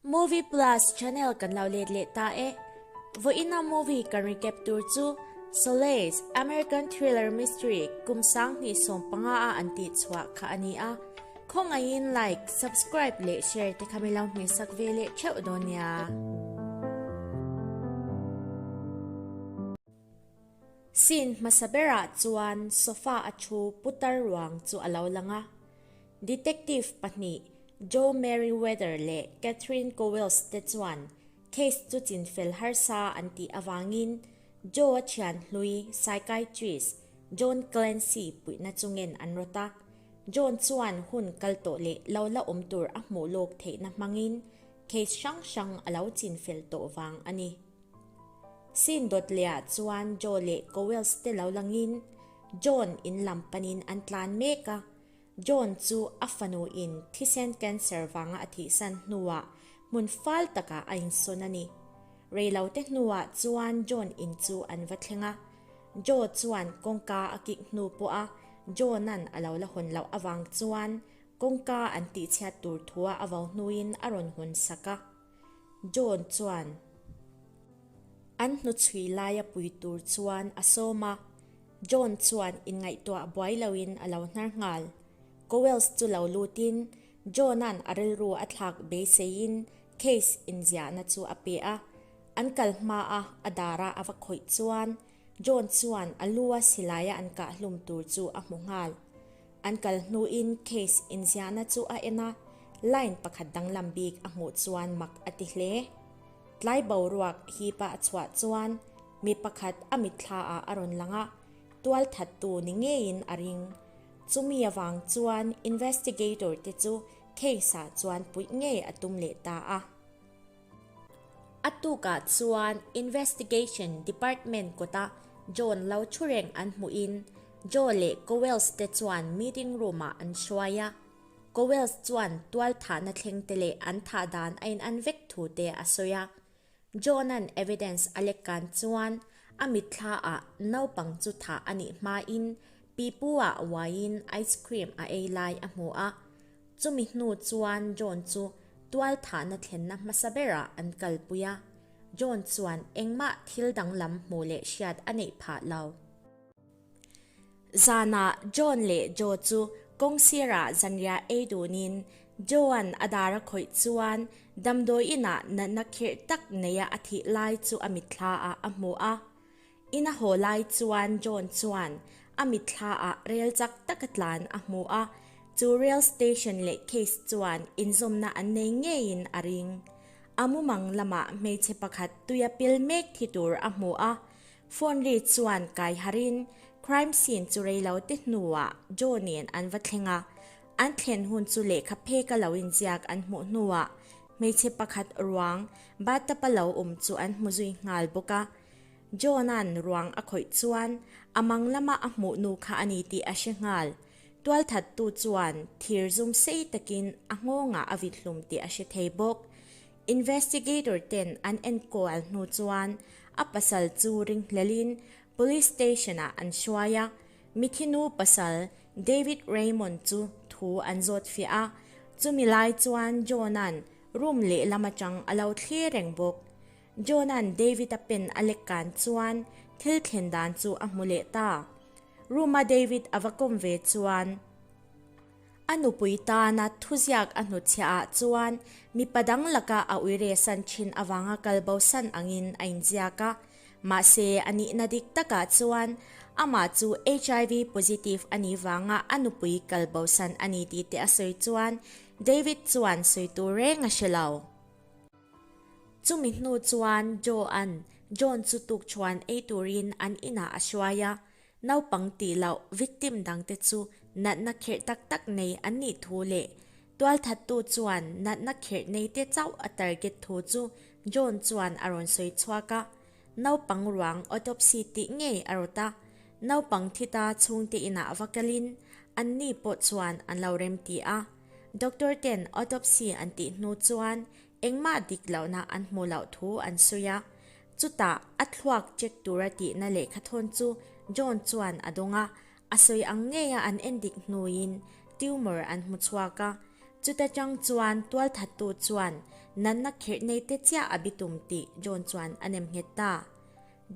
Movie Plus channel kan lo let leh ta e. Vawiina movie kan recap tur chu Solace, American thriller mystery kum sang hnih sawm panga a an tih chhuah kha a ni a. Khawngaihin like, subscribe leh share te kha mi lo hmeh sak ve leh theuh dawn nia. Scene hmasa berah chuan sofa a thu putar ruang chu a lo lang a. Detective pahnih Jo Merriweather leh Catherine Cowles te chuan case chu chinfel harsa an tih avangin Jo-a thianhlui psychiatrist John Clancy puihna chu ngen an rawt a. John chuan hun kal tawh leh lo la awm tur a hmuh lawk theihna hmangin case hrang hrang a lo chinfel tawh vang a ni. Sin dawt leh ah chuan Joe leh Cowells te lo lang in John in lam pan in an tlan mek a. John chu a fanu in thisen cancer vang a a thih san hnu ah hmun fal tak ah a in sawn a ni. Rei lo te hnu ah chuan John in chu an va thleng a. Joe chuan kawngka a kik hnu pawh a John an a lo la hawn loh avang chuan kawngka an tihchhiat tur thu a a vau hnu in a rawn hun sak a. John chuan an hnu chhui lai a pui tur chuan a sawm a, John chuan inngaihtuah buai loin a lo hnar nghal. Cowells chu lo lutin John-a'n a rilru a thlak beiseiin case inziahna chu a pe a, an kal hma a a darah a va khawih chuan John chuan a lu a silaiah an kah hlum tur chu a hmu nghal. An kal hnuin case inziahna chu a en a, line pakhat danglam bik a hmuh chuan mak a ti hle. Tlai boruak hipa a chhuah chuan mi pakhat a mitthlaah a rawn lang a, tualthattu ni ngeiin a ring. Chumi avang chuan investigator te chu case-ah chuan puih ngei a tum leh ta a. A tukah chuan Investigation Department kawta John lo thu reng an hmuhin Joe leh Cowells te chuan meeting room ah an hruai a. Cowells chuan tualthahna thleng te leh an thah dan a in an vek thu te a sawi a. John-a'n evidence a lek kan chuan a mitthla ah naupang chu thah a nih hmain Pipu-a uaiin ice cream a ei lai a hmu a. Chumi hnu chuan John chu tualthahna thlenna hmasa berah an kalpui a, John chuan engmah thil danglam hmuh leh hriat a neih phah lo. Zanah John leh Joe chu kawng sirah zanria ei duhnin Joe-a'n a dar a khawih chuan damdawi inah natna khirh tak neia a thih lai chu a mitthla ah a hmu a, In a haw lai chuan John chuan a mitthla ah rel chak tak a tlan a hmu a, chu rail station leh case chuan inzawmna an nei ngei in a ring. A mumang lamah hmeichhe pakhat tui a pil mek thi tur a hmu a, phone ri chuan kai harh in crime scene chu rei lo te hnu ah John in an va thleng a, an thlen hun chu lehkha phek a lo inziak an hmuh hnu ah hmeichhe pakhat ruang bathtub a lo awm chu an hmu zui nghal bawk a, John-a'n ruang a khawih chuan a mang lama a hmuh nu kha a ni tih a hre nghal. Tualthattu chuan thir zum sei takin a nghawngah a vit hlum tih a hre thei bawk. Investigator ten an enkual hnu chuan a pasal chu ring hlelhin Police Station-ah an hruai a. Mithi nu pasal David Raymond chu thu an zawt fiah a. Chumi lai chuan John-a'n room lehlam atang a lo thlir reng bawk. Jona'n Davida pen a lek kan chuan thil thlen dan chu a hmu leh ta. Ruma David a va kawm ve chuan a nupui tana thuziak a hnutchhiah ah chuan mipa dang laka a uiresan thin avanga kal bosan angin a inziak a. Mahse, a nihna dik takah chuan amah chu HIV positive a nih vanga a nupui kal bosan a ni tih te a sawi chuan David chuan sawi tur reng a si lo. Chumi hnu chuan Joe-a'n John chu tukṭhuan ei turin an inah a hruai a. Naupang tih loh victim dangte chu natna kherh tak tak nei an nih thu leh tualthattu chuan natna kherh neite chauh a target thu chu John chuan a rawn sawi chhuak a. Naupang ruang autopsy tih ngei a rawt a. Naupang thita chhungte inah va kalin anni pawh chuan an lo remti a. Doctor ten autopsy an tih hnu chuan engmah dik lohna an hmu loh thu an sawi a. Chutah a thluak check tura tihna leh kha thawn chu John chuan a dawng a, a sawi ang ngeia an en dik hnuin tumor an hmu chhuak a. Chuta chang chuan tualthattu chuan nanna kherh nei te chiah a bi tum tih John chuan a nem nghet ta.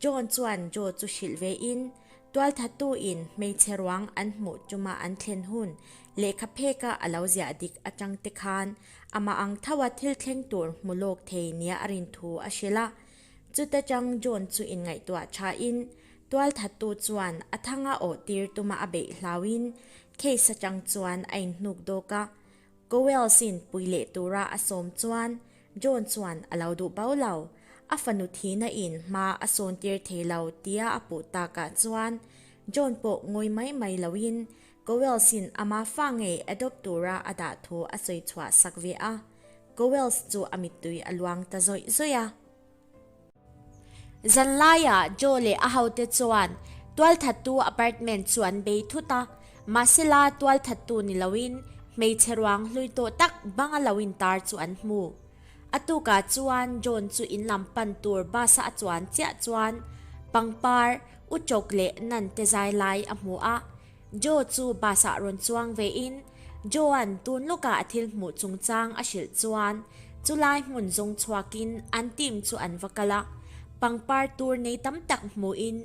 John chuan Joe chu hrilh ve in, tualthatu in hmeichhe ruang an hmuh tuma an thlen hun lehkha phek a a lo ziah dik atang te khan amah ang tho a thil thleng tur hmu lawk thei nia a rin thu a hrilh a. Chuta tang John chu in ngaihtuah tha in, tualthatu chuan a thang a awh tir tuma a beih hlau in, case atang chuan a in hnuk dawk a. Cowells in pui leh tura a sawm chuan John chuan a lo duh bau lo, a fanu thihna in hma a sawn tir thei lo tia a puh takah chuan John pawh ngawi mai mai lo in Cowells in a ma fa ngei adopt tura a dah thu a sawi chhuah sak ve a, Cowells chu a mittui a luang ta zawih zawih a. Zan laia Joe leh a hote chuan tualthattu apartment chu an bei thut a, mahsela tualthattu ni loin hmeichhe ruang hlui tawh tak banga lo intar chu an hmu. A tuka chuan John chu in lam pan tur bus-a a chuan chiah chuan pangpar, u chawk leh nan te zai lai a hmu a. Joe chu bus ah rawn chuang ve in Joe-an tun lawkah a thil hmuh chung chang a hrilh chuan chu lai hmun zawng chhuak in an team chu an va kal a, pangpar tur nei tam tak hmuh in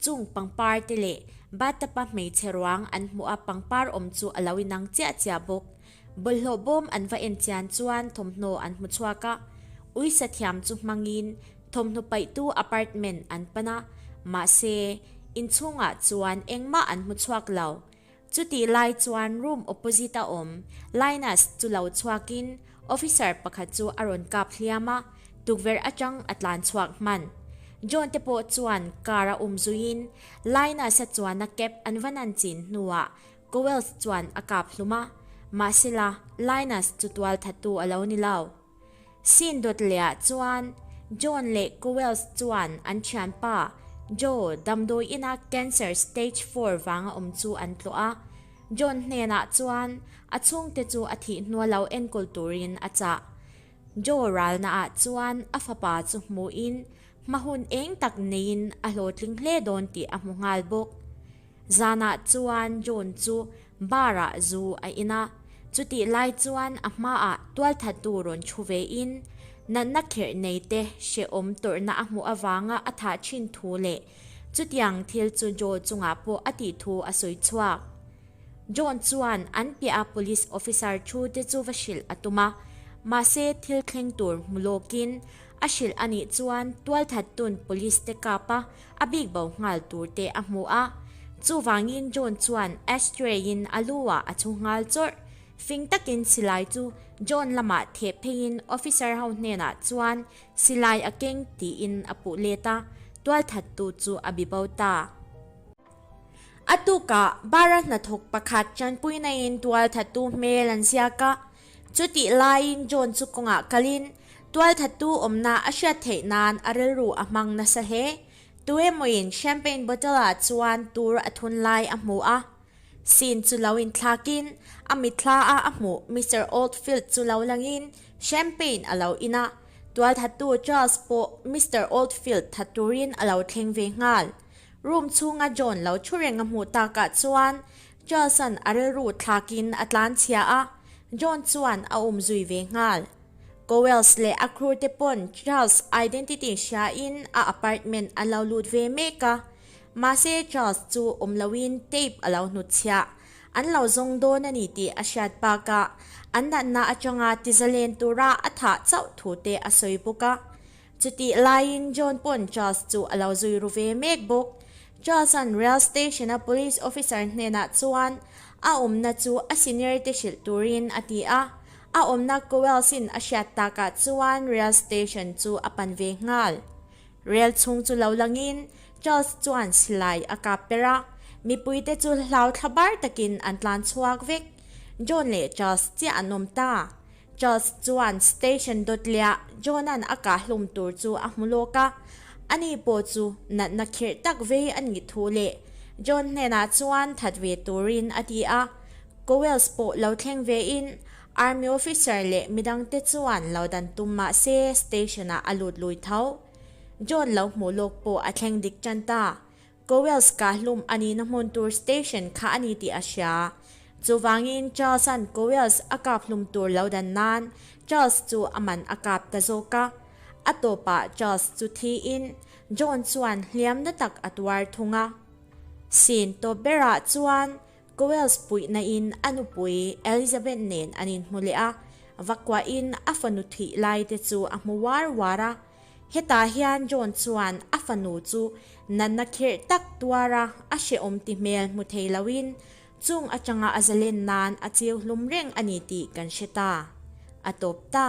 chung pangpar te leh bathtub-a hmeichhe ruang an hmuh a pangpar awm chu a lo inang chiah chiah bawk. Bawlhhlawh bawm an va en chian chuan thawmhnaw an hmu chhuak a, Ui Sathiam chu hmangin thawmhnaw paihtu apartment an pan a, mahse inchhungah chuan engmah an hmu chhuak lo. Chutih lai chuan room opposite a awm Linus chu lo chhuakin officer pakhat chu a rawn kap hliam a, tukverh atang a tlan chhuak hman. John te pawh chuan car a um zuiin Linus-a chuan a kep an va nan chin hnuah Cowells chuan a kap hlum a, mahsela Linus chu tual thattu a lo ni lo. Scene dawt lehah chuan John leh Cowells chuan an thianpa Joe damdawi ina cancer stage four vanga awm chu an tlawh a, John hnenah chuan a chhungte chu a thih hnuah lo enkawl turin a chah. Joe ralnaah chuan a fapa chu hmuhin hmahun eng tak neiin a hlawhtling hle dawn tih a hmu nghal bawk. Zanah chuan John chu bar-ah zu a in a, chutih lai chuan a hmaah tualthatu rawn thu ve in, natna kherh nei te hrehawm tawrhna a hmuh avanga a thah thin thu leh chutiang thil chu Joe chungah pawh a tih thu a sawi chhuak. John chuan an piaha police officer thu te chu va hrilh a tum a, mahse thil thleng tur hmu lawkin a hrilh a nih chuan tualthatun police te kap a, a bik bo nghal tur te a hmu a. Chuvangin John chuan astray-in a lu ah a thu nghal chawrh. Fing takin silai chu John lamah theh pheiin officer ho hnenah chuan silai a keng tiin a puh let a, tualthattu chu a bibo ta. A tukah bara hnathawk pakhat ṭanpuinaiin tualthattu hmel an ziak a, Chutih laiin John chu kawngah kalin tualthatu awmna a hriat theih nan a rilru a hmang nasa hle. Tuemawiin champagne bottle-a chuan tur a thun lai a hmu a. Scene chu lo inthlakin a mitthla-a a hmuh Mister Oldfield chu lo langin champagne a lo in a, tualthatu Charles pawh Mister Oldfield that turin a lo thleng ve nghal. Room chhunga John lo thu reng a hmuh takah chuan Charles-a'n a rilru thlakin a tlanchhia a, John chuan a awm zui ve nghal. Cowells leh a crewte pawn Charles identity hriain a apartment an lo lut ve mek a, mahse Charles chu awm loin tape a lo hnutchhia. An lo zawng dawn a ni tih a hriat bakah, an natna atanga tizalen tura a thah chauh thute a sawi bawk a, Chutih laiin John pawn Charles chu a lo zui ru ve mek bawk. Charles-a'n Rail Station-a Police Officer hnenah chuan a awmna chu a seniority hrilh turin a ti a. A awmna Cowells-in a hriat takah chuan Rail Station chu a pan ve nghal. Rail chhung chu lo langin Charles chuan silai a kap per a. Mipuite chu hlau thla bar takin an tlan chhuak vek. John leh Charles chiah an awm ta. Charles chuan station Dawtliah John-a'n a kah hlum tur chu a hmu lawk a, ani pawh chu natna khirh tak ve a nih thu leh John hnenah chuan that ve turin a ti a. Cowells pawh lo thleng ve in Army officer leh midang te chuan lo dan tum mah se station-ah a lut lui tho. John lo hmuh lawk pawh a thleng dik tan ta. Cowell's Kahlum a nihna hmun tur station kha a ni tih a hria. Chuvangin Charles-a'n Cowell's a kaphlum tur lo dan nan Charles chu a man a kap ta zawk a. A tawpah Charles chu thiin John chuan hliam na tak a tuar thung a. Sin tawp berah chuan Cowell's puih nain a nupui Elizabeth nen an inhmu leh a, vakuahin a fanu thih lai te chu a hmu var var a. Hetah hian John chuan a fanu chu natna khirh tak tuara a hrehawm ti hmel hmu thei loin chung atanga a zalen nan a chiu hlum reng a ni tih kan hre ta. A tawp ta.